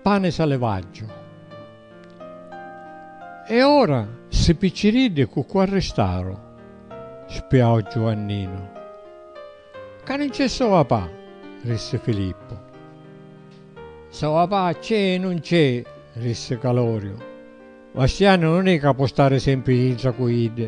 Pane salevaggiu. E ora ssi picciriddi cu cu arristaru? spiau Giuanninu. Ca nun c'è sova pa, rissi Filippu. Sova pa c'è e nun c'è, rissi Caloriu. Vastianu nun è ca po stari sempri dintra cu iddi.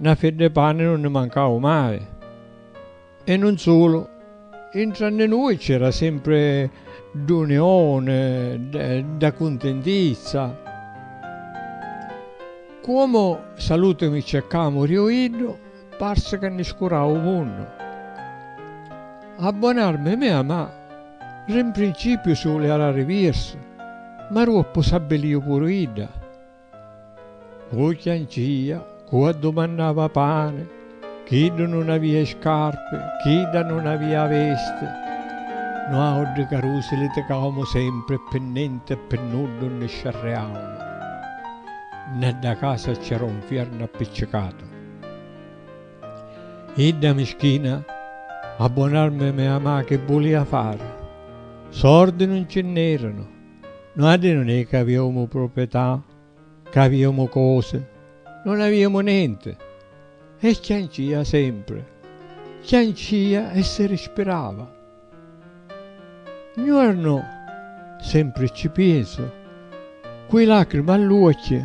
Na fedda 'e pani nun ni mancau mai. E nun sulu, intra nni nui c'era sempri d'unioni, dda cuntintizza. Cuomu salutu mi cercamu riu iddu, parsi ca ni scurau 'u munnu. A bon'armi mia ma, ri 'n principiu si uliara rivirsu, ma ruoppu s'abbiliu puru idda. Cu chiancia, cu addumannava pani, chiddu nun avia i scarpi, chidda nun avia a vesti. Nuauddi carusi liticaumu sempri e pi nenti e pi nuddu nni sciarriaumu. Nna dda casa c'era un fiernu appiccicatu. Idda mischina, a bon'armi mia machi bulia fari. Sordi nun ci nn'eranu. Nuatri nun è ca aviumu pruprietà, ca aviumu cosi, nun aviumu nenti. E chiancia sempri, chiancia e si rispirava. Ngiornu, sempri cci pinsu, cu i lacrimi all'uocchi,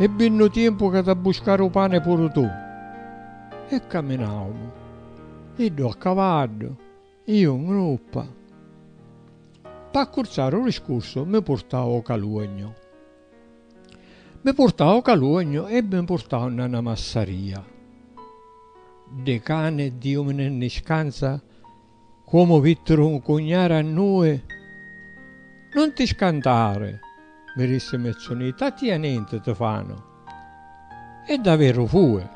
E bi nnu tiempu ca t'ha buscari u pani puru tu. E caminaumu, iddu a cavaddu, iu n gruppa. P'accurzari u discursu mi purtau o caluognu. Mi purtau o caluognu e mi purtau nna na massaria. Di cani e di umini nni scanza Comu vittiru un cugnari a nui, Nun ti scantari, mi rissi Mezzuniti, a tia nenti ti fanu. E daveru fui.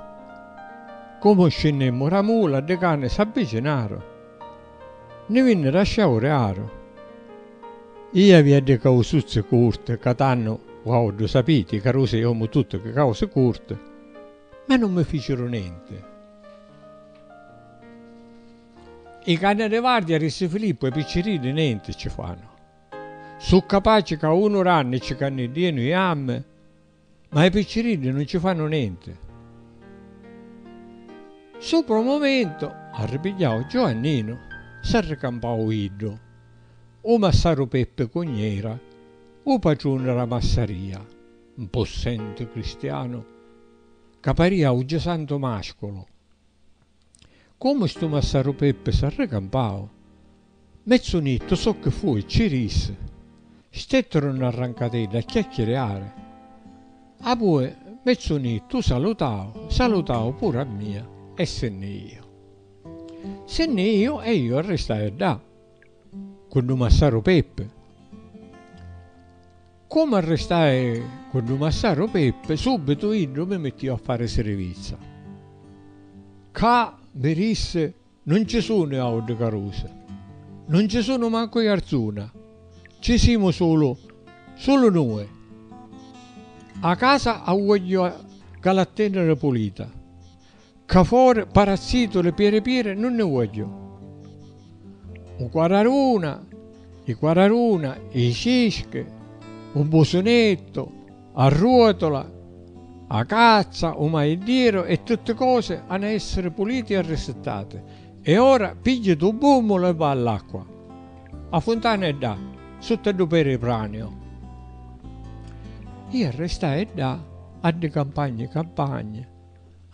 Comu scinnimmu ra mula, ddi cani s'abbicinaru. Ni vinniru a sciauriaru. Ia avia ddi causuzzi curti, ca tannu uau ddu sapiti, ca Rusi è omu tuttu chi causi curti, ma nun mi ficiru nenti. I canni di vardia, rissi Filippu, e i picciriddi nenti ci fannu. Su capaci ca unu ranni ci canniddienu i ammi, ma i picciriddi nun ci fannu nenti. Supra u mumentu, arripigghiau Giuanninu, s'arricampau iddu, u massaru Peppi Cugnera, u patruni d'a massaria, un pussenti cristianu ca paria u Gisantu Masculu. Comu stu massaru Peppi s'arricampau, mezzu nittu socchi fui e ci rissi. Stetturu nna rrancatedda a chiacchiriari. Apui mezzu nittu u salutau, salutau puru a mia e si nni iju. Si nni iju e iu arristai ddà, cu ddu massaru Peppi. Comu arristai cu ddu massaru Pippi, subitu iddu mi mittiu a fari sirivizza. Ccà, mi dissi, nun ci sunu i autri carusi. Nun ci sunu mancu i arzuna. Ci simu sulu, sulu nui. A casa a vuogghiu galatteniri pulita. Cca fori parassituli piri piri nun ni vogghiu. U quararuna, i quararuna, i cischi, u busunettu, a ruotula, a cazza, u maiddiru e tutti cosi hanu a essiri puliti e arrisittati. E ora pigghitu u bummulu e va all'acqua. A funtana è ddà, sutta ddu peripraniu. Ia restai ddà a ddi campagni campagni.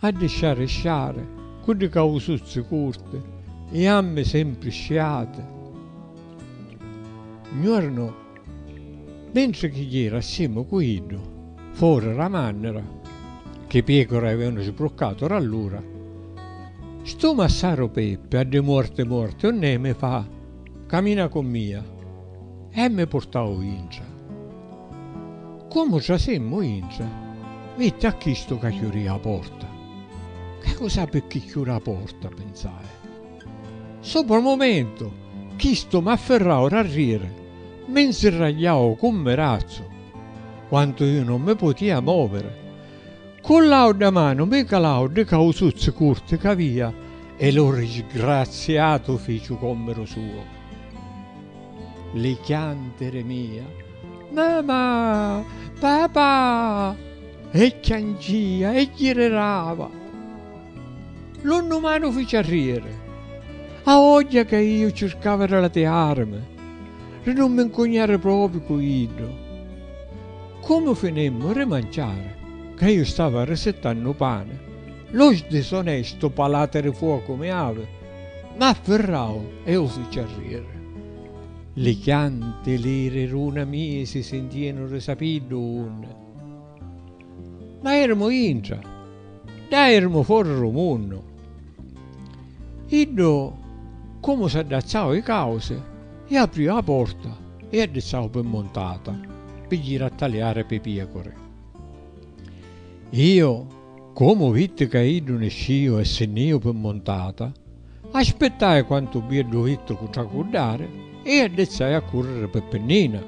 A ddi sciari sciari, cu ddi causuzzi curti i jammi sempri sciati. Un jornu, mentri chi jira assimu cu iddu fori ra mannira, chi piecura avevanu sbruccatu ra lura, stu massaru Peppi a ddi muorti muorti unnemi fa, camina cu mia. E mi purtau intra. Comu trasimmu intra, vitti a chistu ca chiuria 'a porta. Ca cu sapi chi chiuri 'a porta, pinsai. Supra 'o mumentu, chistu m'affirrau r'arriri, mi 'nzirragliau cu 'n mirazzu, quantu iu non mi putia moviri, Cu l'audda manu mi calau di causuzzi curti c'avia e lu risgraziatu ficiu commiru suo. Li chiantiri mia, Mamà! Papà! e chiancia e ggirirava. Lu nnumanu fici arrieri. A vogghia ca iu circava di latiarimi, di nun mi ncugnari propriu cu iddu. Comu finimmu ri manciari, ca iu stavi arrisittannu u pani, lu sdisonestu palati ri fuocu mi avi m'affirrau e u fici arriri. Li chianti li riruna mii si sintìanu ri sapiddu unni. Ma irimu intra, ddà irimu fori ru munnu. Iddu comu s'addazzau i causi. E aprìu a porta e addizzau pi muntata pi jiri a taliari pi piacuri. Iu, comu vitti ca iddu niscìu e si nn'ìu pi muntata, aspittai quantu bieddu vitti cu tracuddari e addizzai a curriri pi pinnina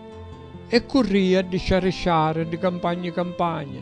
e currìa di sciarisciari di campagni campagni.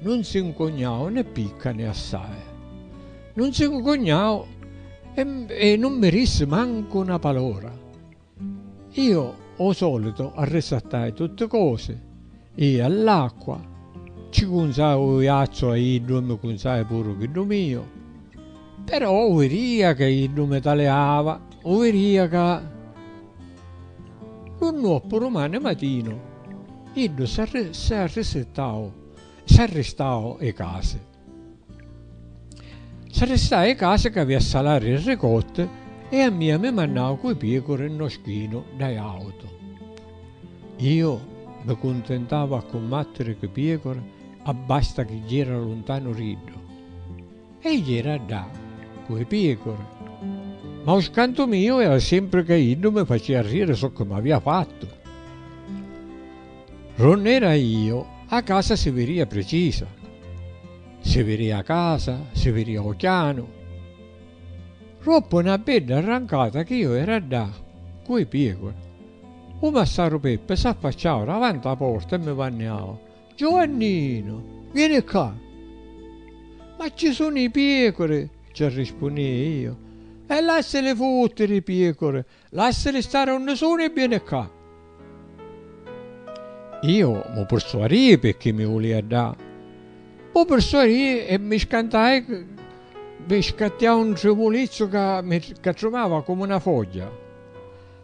Nun si 'ncugnau né picca né assai. Nun si 'ncugnau e nun mi rissi mancu 'na palora. Io ô solitu arrisattai tutti cosi, ii a l'acqua, ci cunzai u iazzu a iddu e mi cunzai puru chiddu miu. Però u viria ca iddu mi taliava, u viria ca. Lu nuoppu rumane matinu, iddu s'arristau 'i casi. S'arristau 'i casi ca avia a salari i ricotti e a mia mi mannau cu 'i piecuri nno schinu dda jautu. Iu mi cuntintau a cummattiri cu 'i piecuri abbasta chi jira luntanu d'iddu. E jera ddà cu i piecore. Ma u scantu miu era sempri ca iddu mi facia riri soccu m'avia fattu. R'unn'era io, a casa si viria pricisa. Si viria a casa, si viria u chianu. Roppu na bedda arrancata chi io era ddà cu i piecore. U massaru Peppi s'affacciau davanti a porta e mi vanniau. Giovanninu, vieni ccà! Ma ci sunnu i piecuri, ci arrispunnìa io. E lassili futtiri i piecuri, lassili stari unni sunu e vieni ccà! Io mu pirsuarìi pirchì mi vulìa dà. Mu pirsuarìi e mi scantai, mi scattiau un trivulizzu ca mi, ca trumava comu na fogghia.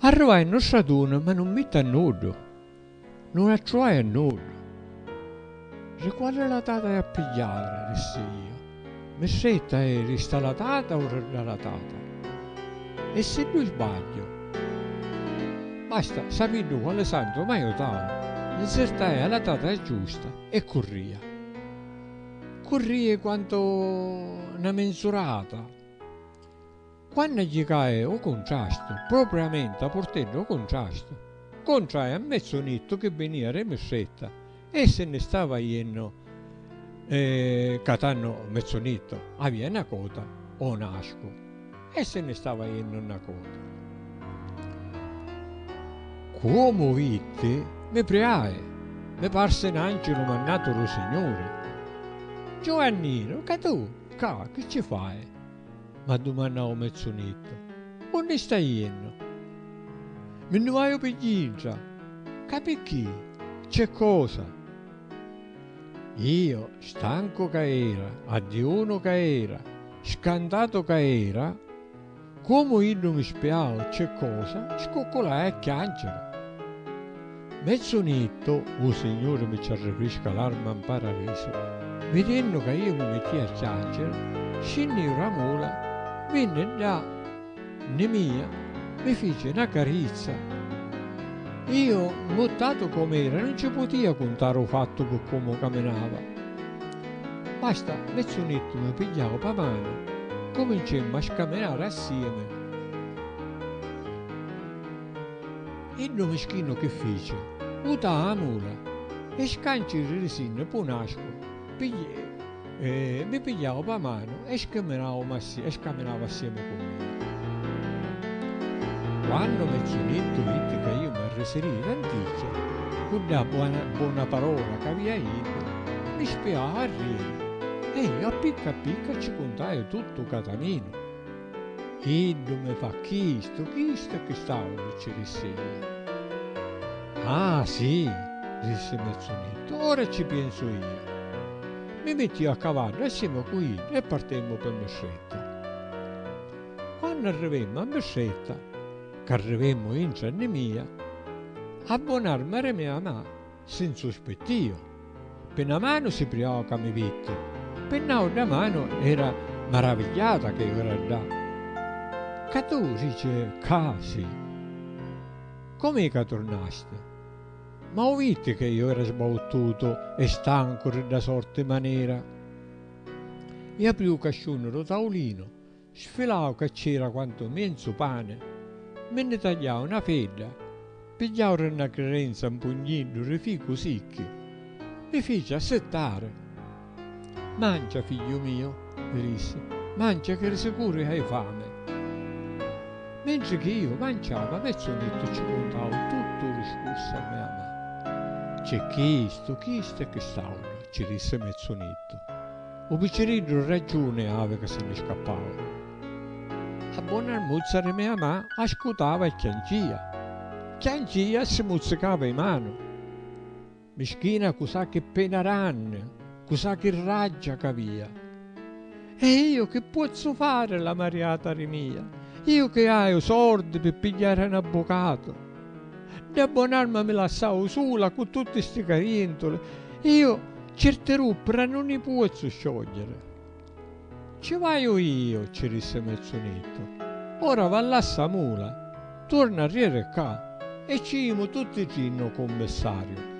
Arruvai nnu straduni ma nun mitti a nuddu, nun attruvai a nuddu. Ri quali latata è a pigghiari? rissi iu. Mi stretta è ri sta latata o ri dda latata? E siddu sbagghiu? Basta, sapiddu quali santu m'aiutau, nzirtai a latata giusta e curria. Currii quantu na minzurata. Quannu gli cae 'u cuntrastu, propriamenta purtennu 'u cuntrastu, contrae a mezzu nittu chi vinìa re Mistretta e si nni stava jennu e ca tannu mezzu nittu avìa 'na cota o 'n ascu e si nni stava jennu 'na cota. Cuomu vitti, mi priae, mi parsi 'n angelu mannatu ru Signuri. Giuanninu, ca tu ccà chi ci fai? M'addumannau Mezzunittu. Unni stai jennu? Mi nni vaiu pi dintra. Ca picchì? C'è cosa? Io, stancu ca era, addiunu ca era, scantatu ca era, comu iddu mi spiau c'è cosa, scucculai a chianciri. Me son'ittu, U Signuri mi ci arricrisca l'arma 'n Paradisu. Vidennu ca iu mi mittia a chianciri, scinniu ra mula, vinni dda 'nni mia, mi fici 'na carizza. Iu, 'mmuttatu com'era, nun ci putia cuntari 'u fattu pi comu caminava. Basta, me son'ittu mi pigghiau p'a manu, cumincemmu a scaminari assiemi. Iddu mischinu chi fici? Uta a nura e scanci ririsinnu p'u nascu mi pigliau pa manu e scaminau assiemi cu mia. Quannu mi ci dittu iddi ca iu m'arrisirìu tanticchia, cu dda bona parola c'avia iddu, mi spiau a riri e iu a picca a picca ci cuntaiu tuttu u cataminu. Chiddu mi fa chistu, chistu e chist'autru ci rissi iu. Ah, sì, rissi Mezzunittu, ora ci piensu iu. Mi mittiu a cavaddu e simu cu iddu e partimmu pi Mistretta. Quannu arrivimmu a Mistretta, c'arrivimmu intra nni mia, a bunarmi era mia ma. Si 'nsuspittìu. Pi 'na manu si priau ca mi vitti, pi 'n'àuddra manu era maravigghiata ca iu era ddà. Ca tu dici ccà si? Com'è ca turnasti? Ma 'u vitti ca iu era sbauttutu e stancu ri dda sorti manera? I apriu 'u casciunu ru taulinu, Sfilau ca cc'era quantu mienzu pani, mi nni tagliau na fedda, pigghiau ri na crirenza un pugniddu ri ficu sicchi, mi fici assittari. Mancia, figghiu miu, mi dissi, mancia chi ri sicuri hai fami. Mentri chi iu manciau ma Pezzunettu cci cuntau tuttu u discursu a mia mami. C'è chistu, chistu e chist'autru, cci dissi Mezzunettu. U picciriddu raggiuni havi ca si nni scappau. A bona armuzza ri mia ma ascutava e chiancia. Chiancia e si muzzicava i manu. Mischina cu sa chi pena ranni, cu sa chi raggia c'avia. E iu chi pozzu fari la mariata ri mia? Iu chi haiu sordi pi pigghiari n'abbucatu. Dda bon'arma mi lassau sula cu tutti sti carientuli, iu certi ruppira nun i puozzu sciogliere. Ci vaiu iu, ci dissi Mezzunittu, ora va là ssa mula, tuorna arrieri ccà e ci jimu tutti tri nno cummissariu.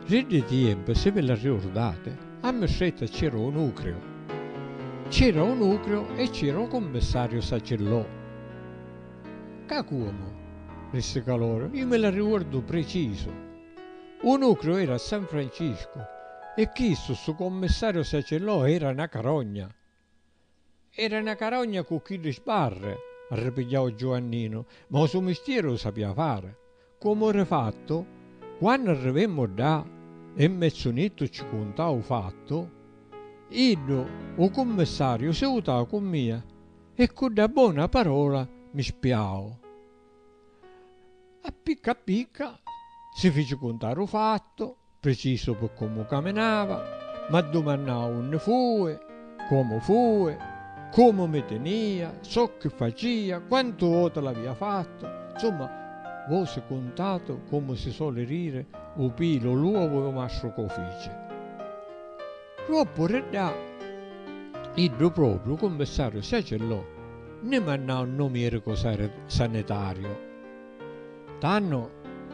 Ri ddi tiempi, si vi l'arriurdati, a Mistretta c'era u nucriu. C'era u nucriu e c'era u cummissariu Sacillò. Ca cuomu? rissi Caloro, iu mi l'arriguordu precisu! U nucliu era a San Franciscu e chistu, stu commissariu Sacellò era na carogna! Era na carogna cu chiddi sbarri! arripigghiau Giuanninu, ma u so mistieri u sapia fari! Comu eri fattu, quannu arrivemmu ddà e Mmezzunittu cci cuntau u fattu, iddu, u cummissariu, si vutau cu mia e ccu dda bona parola mi spiau. A picca a picca si fici cuntari u fattu. Precisu pi comu caminava, m'addumannau unni fui, comu fui, comu mi tinia, socchi facia, quantu voti l'avia fattu, nsumma, vosi cuntatu comu si soli diri u pilu o l'uovu e u mastru ca u fici. Doppu di ddà, iddu propriu, cummissaru Siacillò, nni mannau nnu miricu sanitariu. Tannu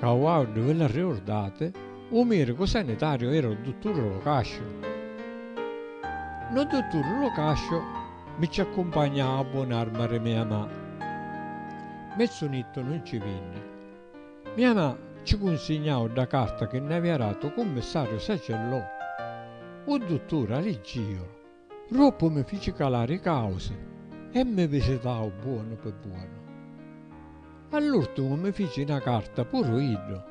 ca u audu vi l'arriurdati, u miricu sanitariu era u dutturi Locasciu. Nu dutturi Locasciu mi ci accumpagnau a bunarma ri mia ma. Mezzu nittu nun ci vinni. Mia ma ci cunsignau dda carta chi nn'avia datu u cummissariu Sacellò. U dutturi a liggiu. Roppu mi fici calari i causi e mi visitau buonu pi buonu. All'urtimu mi fici na carta puru iddu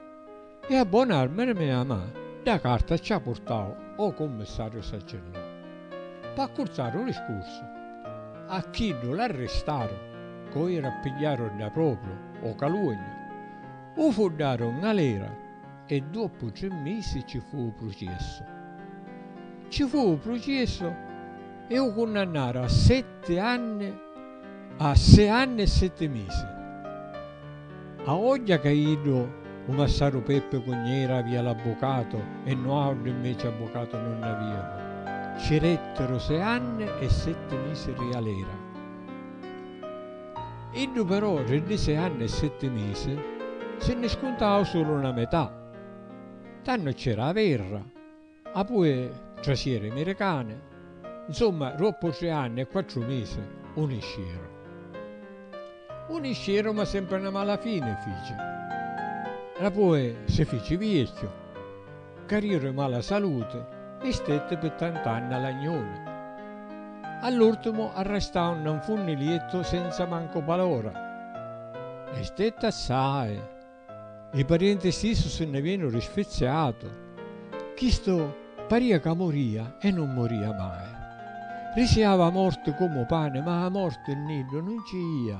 e a bona arma di mia ma dda carta ci a purtau o cummissariu Saccillò. P'accurtari u discursu, a chiddu l'arristaru coiri a pigghiari dda propriu o Calugna, u fuddari o ngalera e doppu tri misi ci fu u pruciessu. Ci fu u pruciessu e u cunnannaru a setti anni a sei anni e setti misi. A ogghia ca iddu, u massaru Peppi cu Gnera avia l'abbucatu e nuautri inveci abbucatu nun ni aviamu, ci rettiru sei anni e setti misi rialera. Iddu però ri ddi sei anni e setti misi si nni scuntau sulu na metà. Tannu c'era a verra, apui trasìa ri miricani, nsumma roppu tri anni e quattru misi un iscieru. Un iscieru ma sempri na mala fini fici. Rapui si fici viecchiu. Cariu ri mala saluti e stetti pi tant'anni a l'agnuni. All'urtimu arrestau nna un funniliettu senza mancu palora. E stetti assai. Li parienti stissu si nni vennuru sfizziatu. Chistu paria ca muria e nun muria mai. Risiava a morti comu pani ma a morti nni iddu nun ci ia.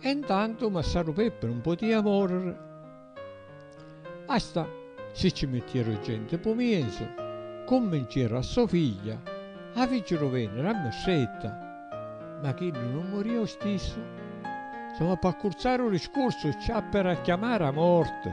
E 'ntantu massaru Peppi nun putìa mòriri. Asta si ci mittieru genti p'u miesu, cummincieru a so figlia a ficiru vèniri a Mistretta, ma chiddu nun murìa u stissu. Soma p'accurzaru u discursu, ci appi ra chiamari a morti.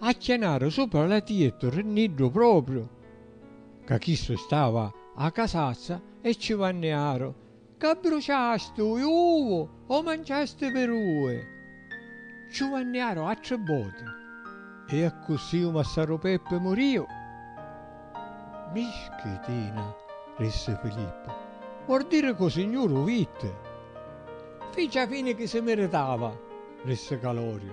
Acchianaru supra la tiettu rinniddu propriu ca chistu stava a casazza e ci vanniaru, C'abbruciasti u iuvu o manciasti pirui? Ciu vanniaru attri boti e accussì u massaru Peppi muriu. Mischitina, rissi Filippu, vor diri cu signuru u vitti. Fici a fini chi si miritava, rissi Caloriu.